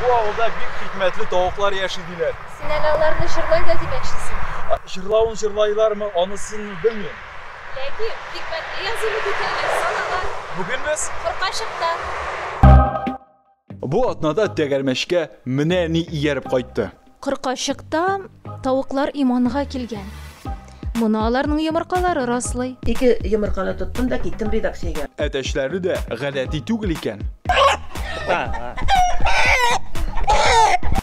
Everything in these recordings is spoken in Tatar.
Бу авылда бик хикмәтле тавыклар яши диләр. Син әле аларны җырлый да димәкчесең. Җырлавын җырлайлармы, анысын белмим. Ләкин хикмәтле язуны бит әле Бүген без Куркачыкта. Бу атнада тәгәрмәчкә менә ни ияреп кайтты. Кыркачыкта тавыклар иманга килгән. Моны аларның йомыркалары раслый. Ике йомырканы тоттым да киттем редакциягә. Әтәчләре дә гадәти түгел икән.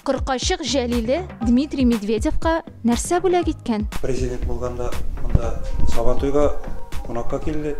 Кыркачык Җәлиле Дмитрий Медведевка нәрсә бүләк иткән? Президент булганда монда Сабантуйга кунакка килде.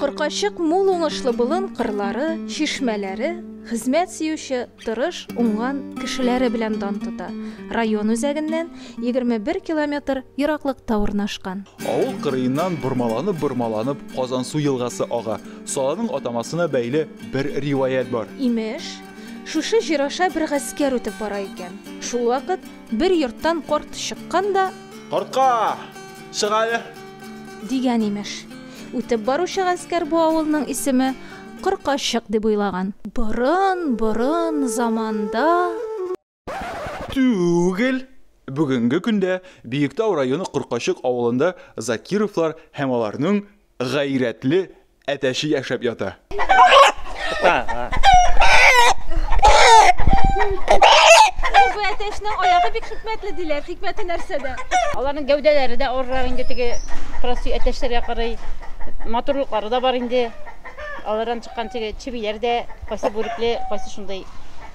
Кыркачык мул уңышлы болын кырлары, чишмәләре, хезмәт сөюче, тырыш, уңган кешеләре белән дан тота. Район үзәгеннән 21 километр ераклыкта урнашкан. Авыл кырыеннан бормаланып-бормаланып Казансу елгасы ага. Саланың атамасына бәйле бер риваять бар. Имеш, шушы җир аша бер гаскәр үтеп бара икән. Шулвакыт Бер йорттан карт чыккан да. Картка! Чык әле! Дигән, имеш. Үтеп баручы гаскәр бу авылның исеме Кыркачык дип уйлаган. Борын, борын заманда. Түгел! Бүгенге көндә Биектау районы Кыркачык авылында Закировлар һәм аларның Гайрәтле әтәче яшәп ята. Бу әтәчнең аягы бик хикмәтле диләр. Хикмәте нәрсәдә? Аларның гәүдәләре дә арырак инде теге простой әтәчләргә карый. Матурлыклары да бар инде. Алардан чыккан теге чебиләр дә кайсы бүрекле, кайсы шундый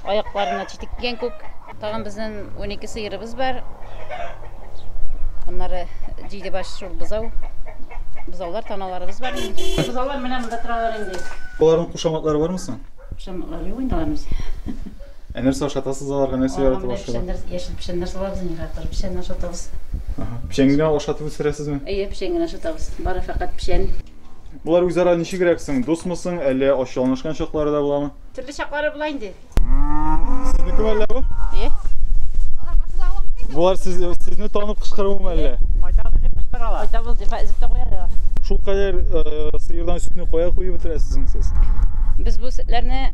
аякларына читек дигән күк. Тагын безнең 12 сыерыбыз бар. Аннары җиде баш шул бозау. Бозаулар таналарыбыз бар. Бозаулар менә монда торалар инде. Аларның кушаматлары бармы соң? Кушаматлары юк инде аларның. Ә нәрсә ашатасыз аларга, нәрсә яратып ашыйлар? Яшел печән нәрсә алабыз инде, хәтер печән ашатабыз. Печәнгә ашатып үстерәсезме? Әйе, печәнгә ашатабыз. Бары фәкать печән. Болар үзара ничегрәк соң, дусмы соң, әллә ачуланышкан чаклары да буламы? Төрле чаклары була инде. Сезнекеме әллә бу? Әйе. Болар сез, сезне танып кычкыруымы әллә? Кайтабыз дип кычкыралар. Кайтабыз дип әзеп тә куялар. Шул кадәр э, сыердан сүтне кая куеп бетерәсез соң сез? Без бу сөтләрне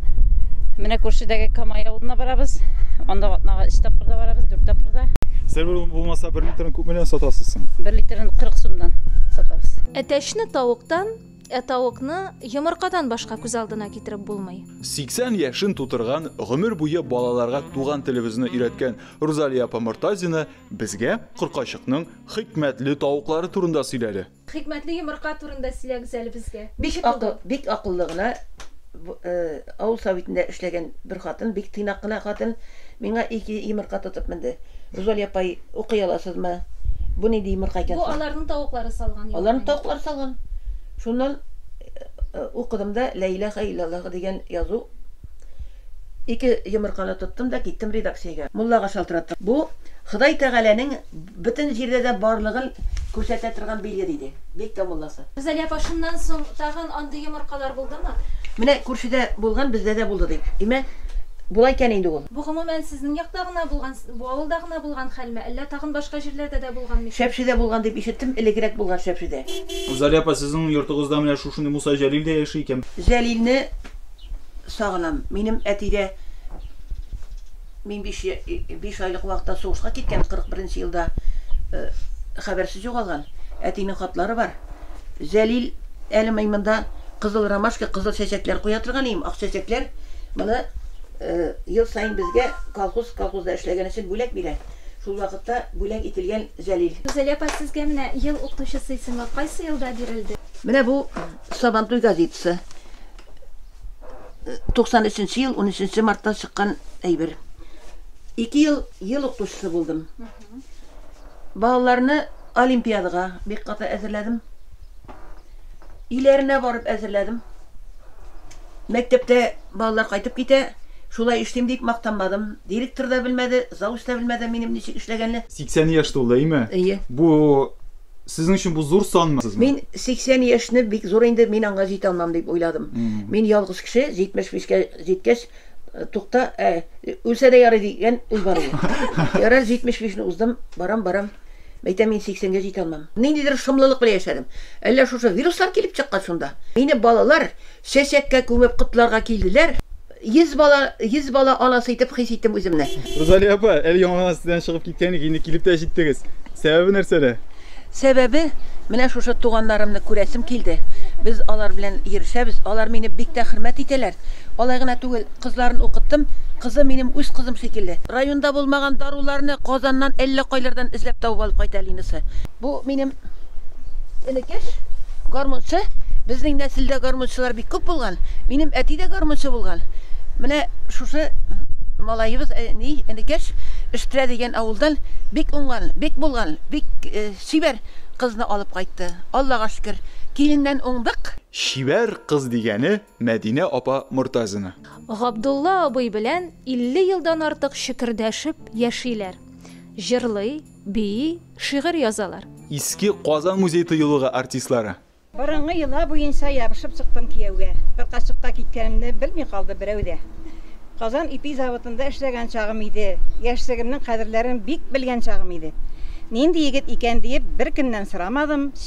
менә күршедәге Камай авылына барабыз. Анда атнага 3 тапкырда барабыз, 4 тапкырда. Сер булмаса, бер литрын күпмедән сатасыз соң? 1 литрын 40 сумнан сатабыз. Тәшне тавыктан, ә тавыкны йомыркадан башка күз алдына китереп булмый. 80 яшен тутырган, гомер буе балаларга туган телебезне өйрәткән Рузалия апа Мортазина безгә Коркачыкның хикмәтле тавыклары турында сөйләде. Хикмәтле йомырка турында сөйләгез әле безгә. Ничек булды? Бик акыллы гына Бу авыл советында эшләгән бер хатын, бик тыйнак кына хатын, миңа ике йомырка тотып менде. Рузалия апай, укый аласызмы? Бу нинди йомырка икән соң? Бу аларның тавыклары салган йомырка. Аларның тавыклары салган. Шуннан укыдым да, Лә иләһә илләллаһ дигән язу. Ике йомырканы тоттым да киттем редакциягә. Муллага шалтыраттым. Бу Ходай Тәгаләнең Бөтен җирдә дә барлыгын күрсәтә торган билет иде. Бик тә мулласы. Гүзәлия апа, шуннан соң тагын андый йомыркалар булдымы? Менә күршедә булган, бездә дә булды, ди. Димәк, була икән инде ул. Бу гомумән сезнең якта гына булган, бу авылда гына булган хәлме, әллә тагын башка җирләрдә дә булган микән? Шәпшедә булган дип ишеттем, элекрәк булган Шәпшедә. Гүзәлия апа, сезнең йортыгызда менә шушындый Муса Җәлил дә яши икән бит? Җәлилне сагынам. Минем әти дә. Мин биш биш айлык вакытта сугышка киткән, 41 нче елда хәбәрсез югалган. Әтинең хатлары бар. Зәлил әле мин монда кызыл ромашка, кызыл чәчәкләр куя торган идем, ак чәчәкләр. Моны ел саен безгә колхоз, колхозда эшләгән өчен бүләк бирә. Шул вакытта бүләк ителгән Зәлил. Гүзәлия апа, сезгә менә Ел укытучысы исеме кайсы елда бирелде? Менә бу Сабантуй газетасы. 93 ел 13 мартта чыккан әйбер. Ике ел ел укытучысы булдым. Балаларны олимпиадага бик каты әзерләдем. Иләренә барып әзерләдем. Мәктәптә балалар кайтып китә, шулай эшлим дип мактанмадым. Директор да белмәде, завуч та белмәде минем ничек эшләгәнне. 80 яшь тулды, әйме? Әйе. Бу Сезнең өчен бу зур санмы? Сезме? Мин 80 яшьне бик зур инде, мин аңа җитә алмам дип уйладым. Мин ялгыз кеше, 75 кә җиткәч, тукта, ә, үлсә дә ярый дигән уй бар иде. Ярар, 75 не уздым, барам, барам, мәйтәм, мин 80 гә җитә алмам. Ниндидер шомлылык белән яшәдем. Әллә шушы вируслар килеп чыккан шунда? Мине балалар чәчәккә күмеп котларга килделәр. Йөз бала, йөз бала анасы итеп хис иттем үземне. Рузалия апа, әле яңа гына сездән чыгып киткән идек, инде килеп тә җиттегез. Сәбәбе нәрсәдә? Сәбәбе, менә шушы туганнарымны күрәсем килде. Без алар белән йөрешәбез, алар мине бик тә хөрмәт итәләр. Алай гына түгел, кызларын укыттым, кызы минем үз кызым шикелле. Районда булмаган даруларны Казаннан, әллә кайлардан эзләп табып алып кайта Линасы. Бу минем энекәш гармунчы. Безнең нәселдә гармунчылар бик күп булган. Минем әти дә гармунчы булган. Менә шушы малаебыз, э, ни, энекәш Эштрә дигән авылдан бик уңган, бик булган, бик э, чибәр кызны алып кайтты. Аллага шөкер, киленнән уңдык. Чибәр кыз дигәне Мәдинә апа Мортазина. Габдулла абый белән 50 елдан артык чөкердәшеп яшиләр. Җырлый. Бии, шигырь язалар. Иске Казан музей-тыюлыгы артистлары. Борынгы йола буенча ябышып чыктым кияүгә. Бер качыкка киткәнемне белми калды берәү дә. Казан ипи заводында эшләгән чагым иде, яшьлегемнең кадерләрен бик белгән чагым иде. Нинди егет икән диеп, беркемнән сорамадым,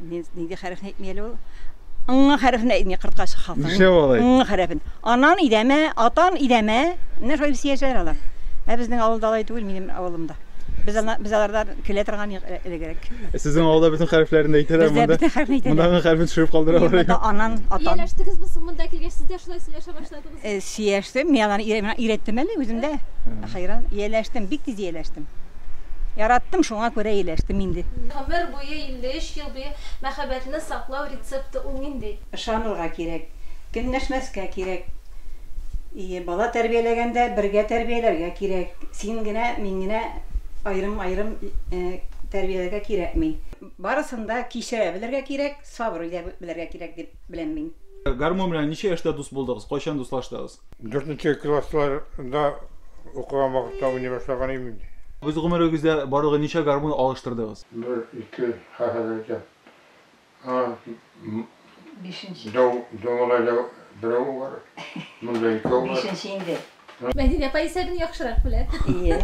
Мин нинди хәрефне әйтми әле ул? Ңы хәрефне әйтми кырткач халкы. Нишләп алай? Ңы хәрефен. Анан идәмә, атан идәмә. Менә шулай үсә яшәр алар. Ә безнең авылда алай түгел, минем авылымда. Без ана без алардан көлә торган юк э- элегрәк. Ә Сезнең авылда бөтен хәрефләрне дә әйтәләр Бездә монда. бөтен хәрефне әйтәләр. Монда аңа хәрефен төшереп калдыралар. Монда анан, атан. Ияләштегезме соң монда килгәч, сез дә шулай сөйләшә башладыгыз? Э, сөйләштем, мин аны өйрәттем әле үзем дә. Хәйран, ияләштем, бик тиз ияләштем. Яраттым, шуңа күрә ияләштем инде. Гомер буе 53 ел буе мәхәббәтне саклау рецепты ул нинди? Ышанырга кирәк, көнләшмәскә кирәк. И, бала тәрбияләгәндә бергә тәрбияләргә кирәк. Син генә, мин генә аерым-аерым э, тәрбияләргә кирәкми. Барысын да кичерә белергә кирәк, сабыр итә белергә кирәк дип беләм мин. Гармун белән ничә яшьтә дус булдыгыз, кайчан дуслаштыгыз? Дүртенче классларда укыган вакытта уйный башлаган идем инде. Үз гомерегездә барлыгы ничә гармун алыштырдыгыз? Бер, ике, хәзер әйтәм. Бишенче. Дәү малайда берәү бар, монда икәү бар. Бишенче инде. Мәдинә апа исә генә яхшырак белә. Ие.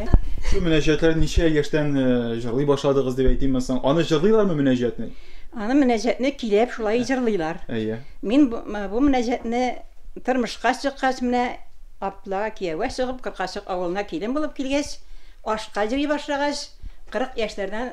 Шу мөнәҗәтләр ничә яшьтән э, җырлый башладыгыз дип әйтим соң. Аны җырлыйлармы мөнәҗәтне? Аны мөнәҗәтне килеп шулай э. җырлыйлар. Әйе. Мин бу, бу мөнәҗәтне тормышка чыккач менә апла кияүгә чыгып, Кыркачык авылына килен булып килгәч, ашка җыри башлагач, 40 яшьләрдән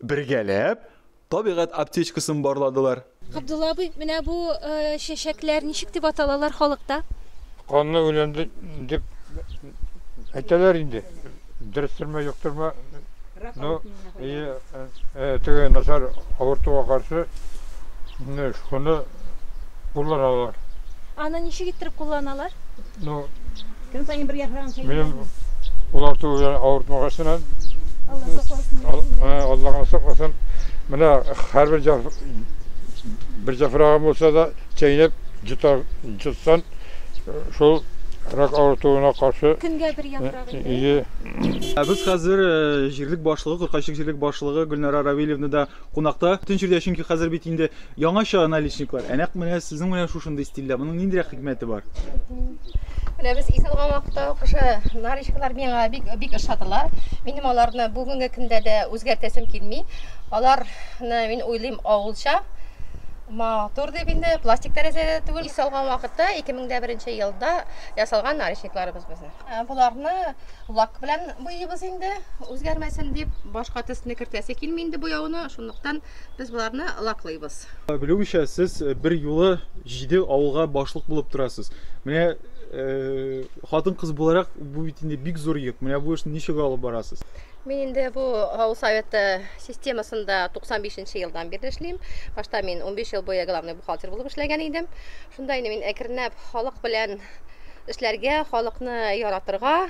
Бергәләп табигать аптечкасын барладылар. Габдулла абый, менә бу чәчәкләр ничек дип аталалар халыкта? Канлы үлән дип әйтәләр инде. Дөрестерме, юктырмы, ну, теге начар авыртуга каршы шуны кулланалар. Аны ничек иттереп кулланалар? Ну, Көн саен бер яфрагын сәйли. минем ул арту белән авыртмагач кына, Алла сакласын. ал- ә, Аллаһ. Алла гына сакласын. Менә һәрбер җаф... бер җафрагын булса да чәйнәп йота, йотсаң, шул рак авыртуына каршы, Көнгә бер яфрак инде. ие. Ә без хәзер э, җирлек башлыгы, Куркайчык җирлек башлыгы Гөлнара Равилевна да Кунакта бөтен җирдә, чөнки хәзер бит инде яңача наличниклар. Ә нәкъ менә сезнең менә шушындый стильдә. Моның ниндирәк хикмәте бар? Менә без ис алган вакытта ук уже наричкалар миңа бик бик ошадылар. Минем аларны бүгенге көндә дә үзгәртәсем килми. Аларны мин уйлыйм авылча, матур дип инде, пластик тәрәзәдә дә түгел. Ис алган вакытта 2001 елда ясалган наричникларыбыз безнең. Боларны Лак белән буйыйбыз инде, үзгәрмәсен дип. Башка төсне кертәсе килми инде буяуны, шунлыктан без боларны лаклыйбыз. Белүемчә, сез бер юлы җиде авылга башлык булып торасыз. Менә хатын-кыз буларак, бу бит инде бик зур йөк. Менә бу эшне ничек алып барасыз? Мин инде бу авыл советы системасында 95 нче елдан бирле эшлим. Башта мин унбиш ел буе главный бухгалтер булып эшләгән идем. Шунда инде мин әкренләп халык белән эшләргә, халыкны яратырга.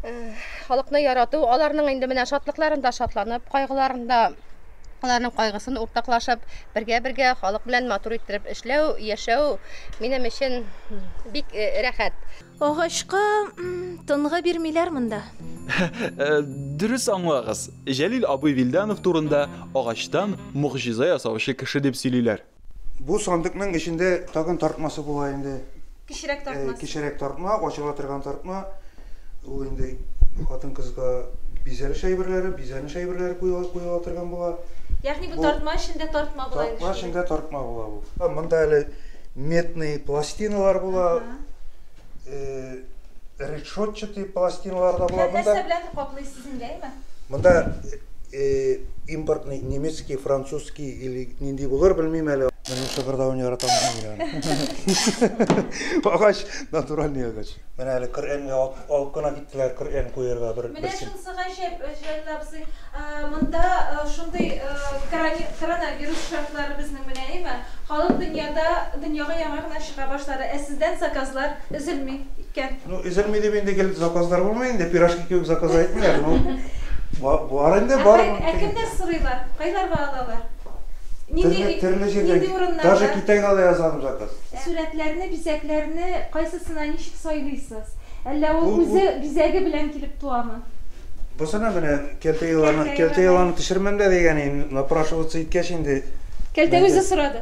Э, халыкны ярату, аларның инде менә шатлыкларында шатланып, кайгыларында аларның кайгысын уртаклашып, бергә-бергә халык белән матур иттереп эшләү, яшәү минем өчен бик э, рәхәт. Агачка тынга бирмиләр монда. Э, дөрес аңлагыз. Җәлил абый Вилданов турында агачтан могҗиза ясаучы кеше дип сөйлиләр. Бу сандыкның эчендә тагын тартмасы була инде. Кечерәк тартмасы. Кечерәк тартма, ачыла торган тартма. Ул инде хатын-кызга бизәлеш әйберләре, бизәнеш әйберләре куела торган була. Ягъни бу тартма эчендә тартма була инде. Тартма эчендә тартма була бу. Монда әле медный пластиналар була. Решетчатый пластиналар да була. Нәрсә белән каплыйсыз? Монда импортный немецкий, французский или нинди булыр, белмим әле. Моның шыгырдавын яратам мин аны. Агач, натуральный агач. Менә әле Коръәнгә алып кына киттеләр, Коръән куярга бер. Менә шунысы гаҗәп, Җәлил абзый, монда шундый коронавирус шартлары безнең белән, әйеме? Халык дөньяда, дөньяга яңа гына чыга башлады, ә сездән заказлар өзелми икән. Ну өзелми дип инде гел заказлар булмый инде, пирожки кебек заказ әйтмиләр, ну бар инде бар. Ә кемнәр сорыйлар? Кайларга алалар? Нинди төрле җирдән. Даже Китайга да язам заказ. Сурәтләрне, бизәкләрне кайсысына ничек сайлыйсыз? Әллә ул үзе бизәге белән килеп туамы? Бусына менә кәлтә еланы, кәлтә еланы төшермәм дә дигән инде, напрашиваться иткәч инде. Кәлтә үзе сорады.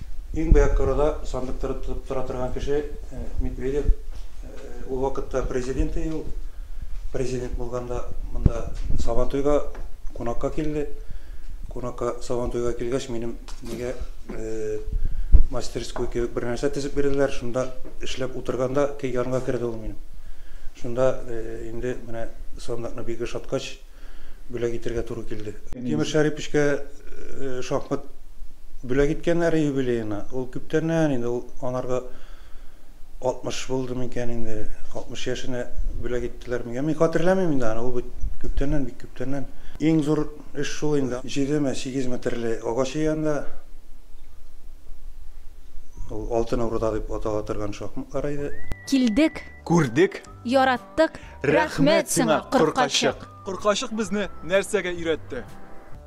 Иң бәяк турыда сандык тотып тора торган кеше Медведев. Ул вакытта президент иде ул. Президент булганда монда Сабантуйга кунакка килде. Кунакка Сабантуйга килгәч, минем мигә мастерской кебек бер нәрсә тезеп бирделәр. Шунда эшләп утырганда янга керде ул минем. Шунда инде менә сандыкны бик ошаткач, бүләк итәргә туры килде. Тимер Шәрипичкә шахмат бүләк иткәннәр юбилеена. Ул күптәннән инде, ул анарга 60 булды микән инде, 60 яшенә бүләк иттеләр микән, мин хәтерләмим инде аны, ул бит күптәннән, бик күптәннән. Иң зур эш шул инде. Җидеме, сигез метрле агач янында, ул Алтын Урда дип атала торган шахматлар иде. Килдек! Күрдек! Яраттык, рәхмәт сиңа, Коркачык! Коркачык безне нәрсәгә өйрәтте?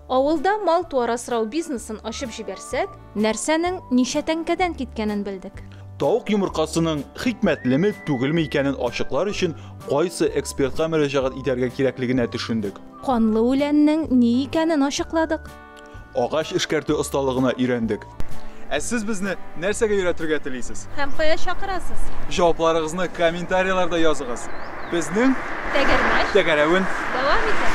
Авылда мал-туар асрау бизнесын ачып җибәрсәк, нәрсәнең ничә тәңкәдән киткәнен белдек. Тавык йомыркасының хикмәтлеме, түгелме икәнен ачыклар өчен кайсы экспертка мөрәҗәгать итәргә кирәклегенә төшендек. Канлы үләннең ни икәнен ачыкладык. Агач эшкәртү осталыгына өйрәндек. Ә сез безне нәрсәгә өйрәтергә телисез? Һәм кая чакырасыз? Җавапларыгызны комментарийларда языгыз. Безнең Тәгәрмәч тәгәрәвен дәвам итә.